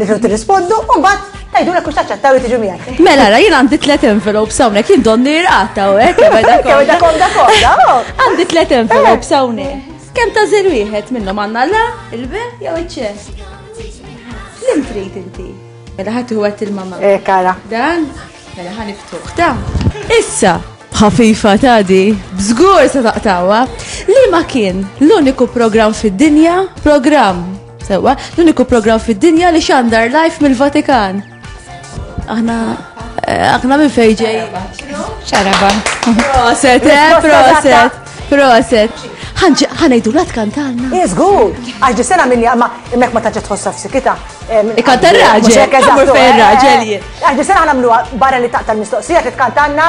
Nifru tirrispondu u mbagħad tgħidulek u taċċettaw li tiġu miegħi. Mela ra jien għandi tliet envelopes hawnhekk jien donni rqata u hekk komda komda komda. Oh. Għandi tliet envelopes hawnhekk. Kemm ta' żer wieħed minnhom għandna la, il-be jew iċ-ċess. Lim trid inti. Mela ħadd iħwet il-mama. Eh kara. Dan, mela ħa niftuħ ta. Issa, ħafifa ta' di, bżgur se taqtawa, li ma kien l-uniku program fid-dinja, program Sewa, l-uniku program fid-dinja li xandar live mill-Vatikan. Aħna eh, aħna minn fejġej. Xaraba. Proset, eh, proset, proset. ħanajdu la tkantalna. Jizgur, għax di sena minni għamma immek ma taġġa tħossa f'sikita. Ikanta raġel, għamur fejn raġel. Għax di sena għanamlu barra li taqta l-mistoqsija li tkantalna.